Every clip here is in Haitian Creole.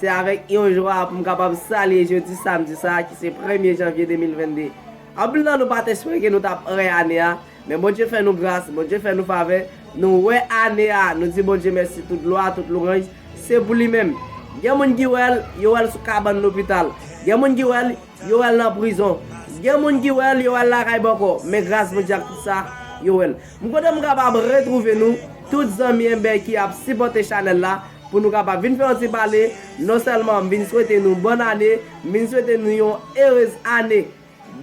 Se avèk yon jwa pou m kapab salye jodi samdi sa a ki se premye janvye 2022. Anpil nan nou pa t espere ke nou t ap wè ane a, men Bondye fè nou gras, Bondye fè nou favè, nou wè ane a, nou di Bondye mèsi tout glwa, tout louranj se pou li menm. Gen moun ki wè l, yo wè l sou kabann lopital, gen moun ki wè l, yo wè l nan prizon, gen moun ki wè l, yo wè l lakay bòkò, men gras Bondye ak tout sa, yo wè l. M kontan m kapab retrouve nou tout zanmi enben ki ap sipòte chanèl la pou nou kapab vin fè yon ti pale, non sèlman m vin swete nou bòn ane, m vin swete nou yon erez ane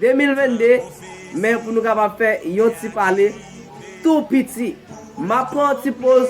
2022, men pou nou kapab fè yon ti pale tou piti. M ap pran yon ti poz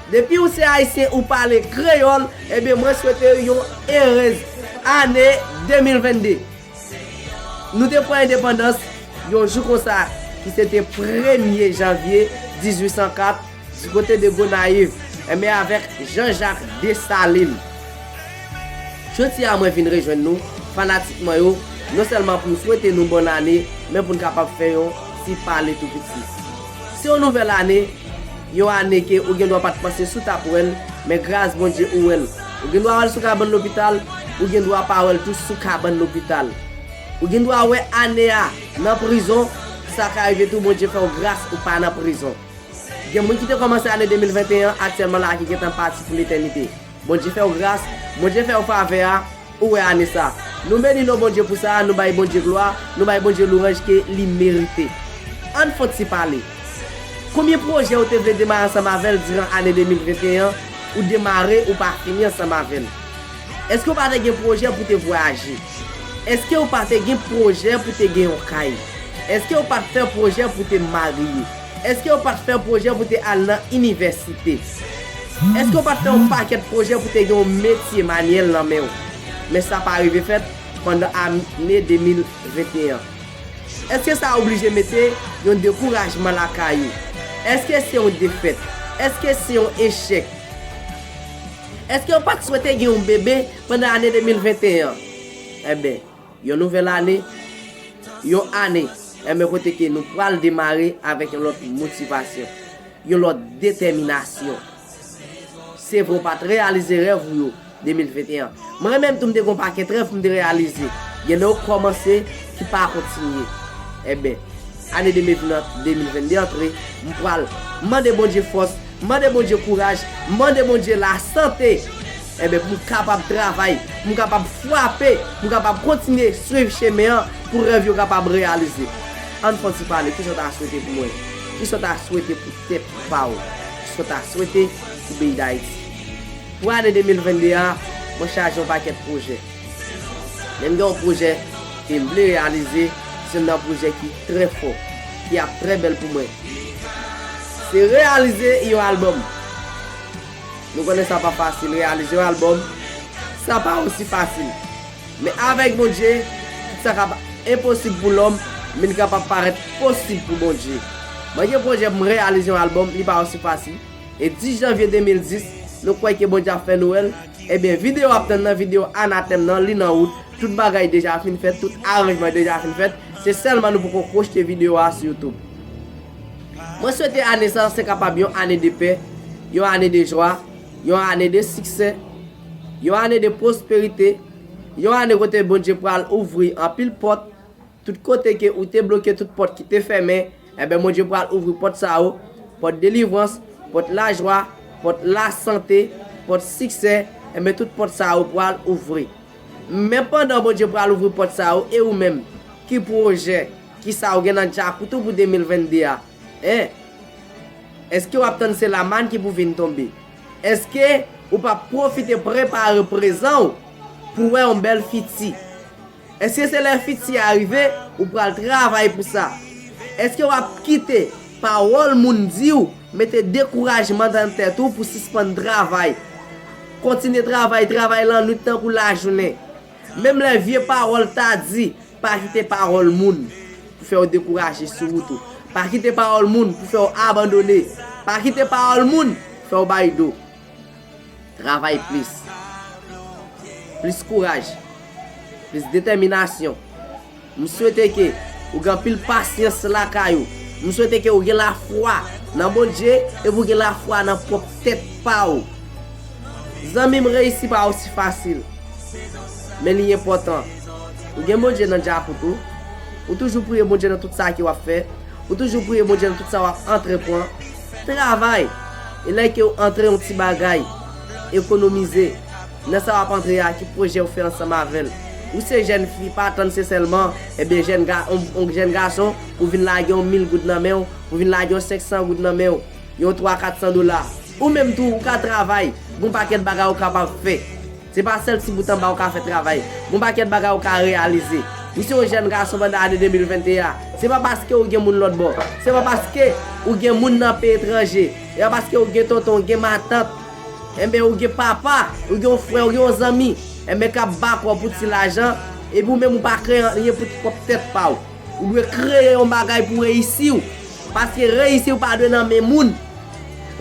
Depi ou se ayisyen ou pale kreyol ebyen mwen swete ou yon erez ane 2022 nou te pran endepandans yon jou konsa ki se te premye janvye 1804 du kote de gonayiv ebyen avek jean jacques dessalines jodi a mwen vin rejwenn nou fanatik mwen yo non selman poum swete nou bon ane men poun kapab fè yon ti pale tou piti. Se yon nouvèl ane, yon ane ke ou gendwa pat panse si w tap wè l, men gras Bondye ou wè l. Ou gendwa wè l sou kabann lopital, ou gendwa pa wè l tou sou kabann lopital. Ou gendwa wè ane a nan prizon, sa ka rive tou Bondye fè w gras ou pa nan prizon. Gen moun ki te kòmanse ane 2021 an aktyèlman la ki gentan pati pou letènite. Bondye fèw gras, Bondye fèw favè a, ou wè ane sa. Nou beni non Bondye pou sa, nou bay Bondye glwa, nou bay Bondye louranj ke li merite. Ann fon ti pale. Konbyen pwojè ou te vle demare ansanm avèl diran ane 2021 an, ou demare ou pa fini ansanm avèl? Eske ou pa te gen pwojè pou te vwayaje? Eske ou pa te gen pwojè pou te gen yon kay? Eske ou pat fè pwojè pou te marye? Eske yo pat fè pwojè pou te al nan inivèsite? Eske yo pat fè yon pakèt pwojè pou te gen yon metye manyèl nan men ou? Men sa pa rive fèt pandan ane 2021 an. Eske sa oblije mete yon dekourajman lakay ou? Eske se yon defèt? Eske se yon echèk? Eske yo pat swete gen yon bebe pandan ane 2021 an? Enben. Yon nouvèl ane, yon ane enben kote ke nou pral demare avèk yon lòt motivasyon, yon lòt detèminasyon. Se vre w pa t reyalize rèv ou yo 2021. Mwen menm tou m te gen yon pakèt rèv pou m te reyalize. Gen lè ou kòmanse ki pa kontinye. Enben, ane 2022 antre, m pral mande Bondye fòs, mande Bondye kouraj, mande Bondye lasante! Enben, pou m kapab travay, pou m kapab frape, pou m kapab kontinye swiv chemen an, pou rèv yo kapab reyalize. An n fon ti pale, kisa w ta swete pou mwen? Kisa w ta swete pou tèt pa w? Kisa w ta swete pou peyi Dayiti? Pou ane 2022 a, mwen chaje yon pakèt pwojè. Men m gen yon pwojè ke m vle reyalize, se youn nan pwojè ki trè fò, ki ap trè bèl pou mwen. Se reyalize yon albòm. Nou konnen sa pa fasil reyalize yon album, sa pa osi fasil. Men avèk Bondye, tout sa kap enposib pou lòm vin kapab parèt posib pou Bondye. Mwen gen pwojè pou m reyalize yon album, li pa osi fasil. E 10 janvye 2010, nou kwè ke Bondye ap fè nou wè l, ebyen video w ap tann nan, video Anatèm nan, li nan wout, tout bagay deja fin fèt, tout aranjman deja fin fèt, se sèlman nou poko pwochte video a sou YouTube. Mwen swete ane sa se kapab yon ane de pè, yon ane de jwa, yon ane de siksè, yon ane de pwosperite, yon ane kote Bondye pral ouvri anpil pòt, tout kote ke ou te bloke tout pòt ki te fèmen, enben Bondye pral ouvri pòt sa yo, pòt delivrans, pòt lajwa, pòt lasante, pòt siksè, enben tout pòt sa yo pral ouvri. Men pandan Bondye pral ouvri pòt sa yo e ou menm, ki pwojè. Kisa ou gen nan djakout ou pou 2022 a? Hein? Eske wap tann se lamann ki pou vin tonbe? Eske ou pap pwofite prepare prezan ou pou wè yon bèl fiti? Eske se lè fiti a rive ou pral travay pou sa? Eske wap kite pawòl moun di ou mete dekourajman nan tèt ou pou sispann travay? Kontinye travay, travay lannwit tankou lajounen. Menm lè vye pawòl ta di Pa kite pawòl moun pou fè w dekouraje sou wout ou. Pa kite pawòl moun pou fè w abandone. Pa kite pawòl moun fè w bay do. Travay plis. Plis kouraj. Plis detèminasyon. M swete ke ou gen anpil pasyans lakay ou. M swete ke ou gen lafwa nan Bondje epi ou gen lafwa nan pwòp tèt pa ou. Zanmim reyisi pa osi fasil men li enpòtan ou gen Bondye nan djakout ou ou toujou priye Bondye nan tout sa ke wap fè ou toujou priye Bondye nan tout sa wap antrepwan travay e lè kew antre yon ti bagay ekonomize nan sa wap antre a ki pwojèw fè ansanm avèl ou se jèn fi pa tann se sèlman ebyen jèn ga yon jèn gason pou vin lage yon mil goud nan menw pou vin lage yon 500 goud nan menw. Yon twa kat san dola. Ou menm tou ou ka travay. Gon pakèt bagay ou kapab fè. Se pa sèl ti bout anba ou ka fè travay. Gon pakèt bagay ou ka reyalize. Ou se yon jèn gason pandan ane 2021 a. Se pa paske ou gen moun lòtbò. Se pa paske ou gen moun nan peyi etranje. Se pa paske ou gen tonton, ou gen matant. Enben ou gen papa, ou gen yon frè, ou gen yon zanmi. Enben kap bak ou pou ti lajan. Epi ou menm ou pa kreye anyen pou pwòp tèt pa ou. Ou dwe kreye yon bagay pou reyisi w. Paske reyisi w pa dwe nan men moun.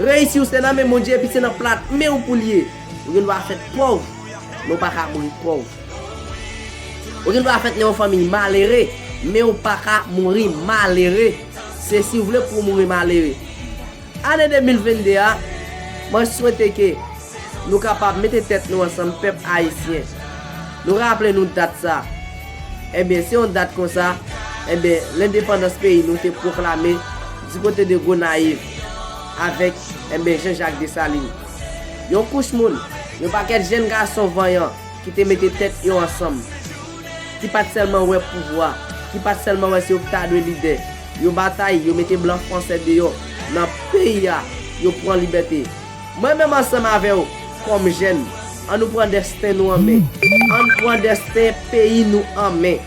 Reyisi w se nan men Bondye epi se nan plat men w pou l ye. Ou gen dwa fèt pòv, men w pa ka mouri pòv. Ou gen dwa fèt nan yon fanmiy malere, men w pa ka mouri malere. Se si w vle pou w mouri malere. Ane 2022 a, mwen swete ke nou kapab mete tèt nou ansanm pèp Ayisyen. Nou raple nou dat sa. Enben, se yon dat konsa, enben, lendepandans peyi nou te pwoklame di kote de Gonayiv avèk, enben, Jan Jak Desalin. Yon kouch moun, yon pakèt jenn gason vanyan ki te mete tèt yo ansanm, ki pa t sèlman wè pouvwa, ki pa t sèlman wè se yo ki ta dwe lidè, Yo batay, yo mete blan fransè deyò nan peyi a, yo pran libète. Mwen menm ansanm avè w, kòm jèn, an nou pran desten nou an men. An n pran desten peyi nou an men.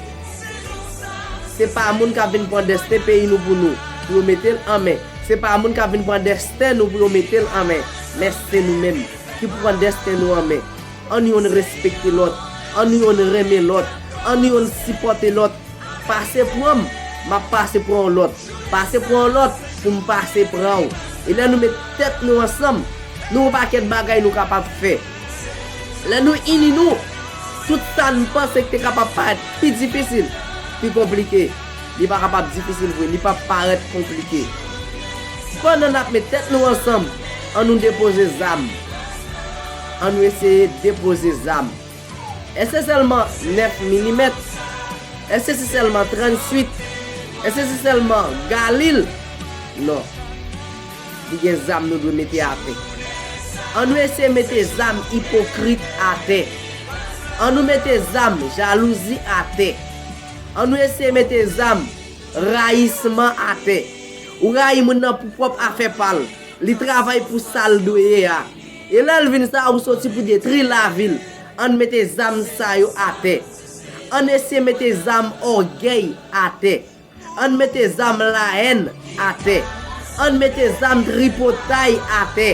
Se pa moun k ap vin pran desten peyi nou pou nou, pou yo mete l an men. Se pa moun k ap vin pran desten nou pou yo mete l an men. Men se nou menm, ki pran desten nou an men. An nou youn respekte lòt. An nou youn renmen lòt. An nou youn sipòte lòt. Pase pran m, m ap pase pran yon lòt. Pase pran yon lòt pou m pase pran ou. E lè nou met tèt nou ansanm, nou gon pakèt bagay nou kapab fè. Lè nou ini nou, tout sa n panse k te kapab parèt pi difisil, pi konplike, li pa kapab difisil vre, li p ap parèt konplike. Pandan n ap met tèt nou ansanm, an nou depoze zam. An nou eseye depoze zam. Èske se sèlman 9 milimèt? Èske se sèlman 38? Èske se sèlman Galil? Non. Li gen zam nou dwe mete atè. An nou eseye mete zam ipokrit atè. An nou mete zam jalouzi atè. An nou eseye mete zam rayisman atè. Ou rayi moun nan pou pwòp afè pa l. Li travay pou sa l dwe ye a. E lè l vin sa a ou soti pou detri lavi l. Ann mete zam sa yo atè. Ann eseye mete zam ògèy atè. Ann mete zam laèn atè. Ann mete zam tripotay atè.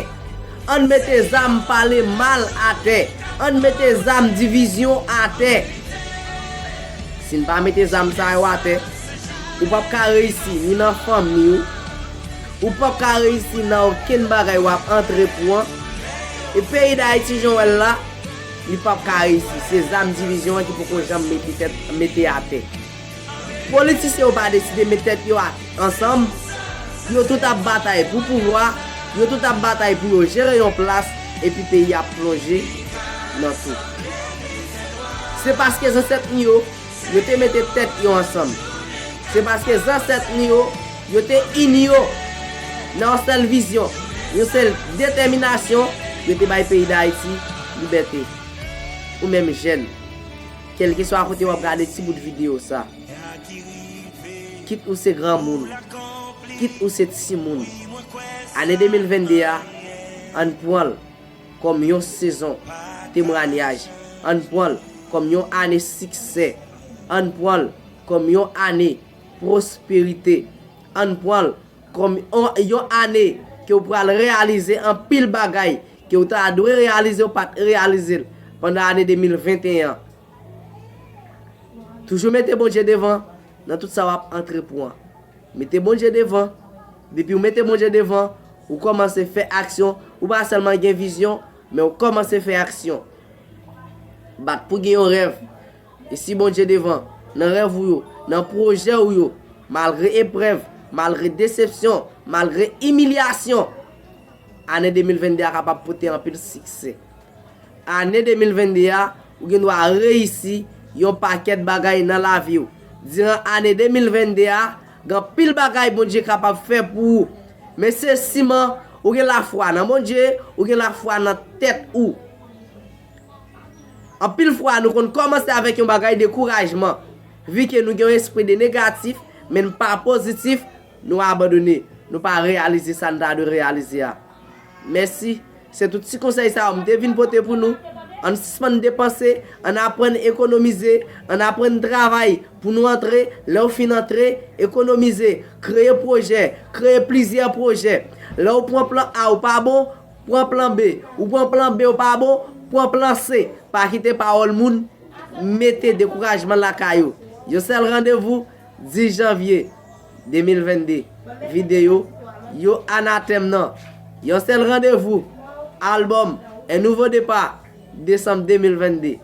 Ann mete zam pale mal atè. Ann mete zam divizyon atè. Si n pa mete zam sa yo atè, ou pap ka reyisi ni nan fanmi ou, Ou pap ka reyisi nan okenn bagay wap antrepwan e peyi dayiti jan w wè l la li pap ka reyisi se zam divizyon an ki poko janm mete tèt mete atè politisyen yo pa deside met tèt yo ansanm yo tout ap batay pou pouvwa yo tout ap batay pou yo jere yon plas epi peyi a plonje nan tou se paske zansèt nou yo Yo te mete tèt yo ansanm. Se paske zansèt nou yo, yo te ini yo nan yon sèl vizyon, yon sèl detèminasyon, yo te bay peyi Dayiti libète. Ou menm jèn, kèlkeswa kote w ap gade ti bout videyo sa, kit ou se granmoun, kit ou se timoun, ane 2022 a, ann pran l. kòm yon sezon temranyaj, ann pran l kòm yon ane siksè, ann pran l kòm yon ane pwosperite, ann pran l kòm yon ane ke w pral reyalize anpil bagay ke w ta dwe reyalize w pa t reyalize l pandan ane 2021 an. Toujou mete Bondye devan nan tout sa wap antre pwan. Mete Bondye devan, depiw mete Bondye devan, ou kòmanse fè aksyon, ou pa sèlman gen vizyon, men ou kòmanse fè aksyon. Bat pou gen yon rèv, e si Bondye devan, nan rèv ou yo, nan pwojè ou yo, malgre eprèv, malgre desepsyon, malgre imilyasyon, ane 2022 a kapab pote anpil siksè. Ane 2022 a, ou gen dwa reyisi yon pakèt bagay nan lavi w. Diran ane 2022 a, gen anpil bagay Bondye kapab fè pou ou. Men se siman ou gen lafwa nan Bondye, ou gen lafwa nan tèt ou. Anpil fwa nou konn kòmanse avèk yon bagay dekourajman. Vi ke nou gen yon espri de negatif, men n pa pozitif, nou abandone. Nou pa reyalize sa n ta dwe reyalize a. Mèsi. Se tout ti konsèy sa yo m te vin pote pou nou. Ann sispann depanse, ann aprann ekonomize, ann aprann travay pou nou antre, lè w fin antre, ekonomize, kreye pwojè, kreye plizyè pwojè. Lè w pran plan A ou pa bon, pran plan B. Ou pran plan B ou pa bon, pran plan C. Pa kite pawòl moun mete dekourajman lakay ou. Yon sèl randevou, 10 janvye. 2022 Videyo, Yo Anatèm nan Yon Sèl Randevou! Albòm, Un Nouveau Départ! Desanm 2022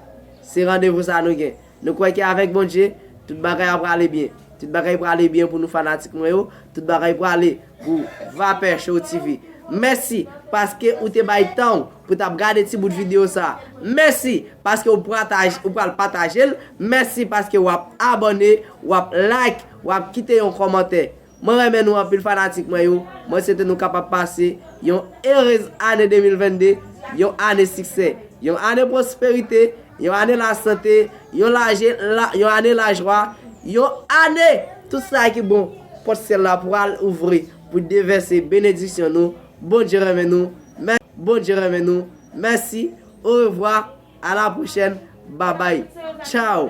Se randevou sa nou gen Nou kwè ke avèk Bondye, tout bagay ap prale byen Tout bagay prale byen pou nou fanatik mwen yo Tout bagay prale pou Vapeur Show TV Mèsi paske ou te bay tan ou pou tap gade ti bout videyo sa Mèsi paske ou pral pataje l Mèsi paske wap abòne, wap like. Wap kite yon kòmantè. Mwen renmen nou anpil fanatik mwen yo, mwen swete nou kapab pase yon erez ane 2022, yon ane siksè, yon ane pwosperite, yon ane lasante, yon laje la yon ane lajwa, yon ane tout sa ki bon, pòt syèl la pral ouvri pou devèse benediksyon nou, Bondye renmen nou, mè Bondye renmen nou, mèsi, orevwa, a la pwochèn, babay, tchaw.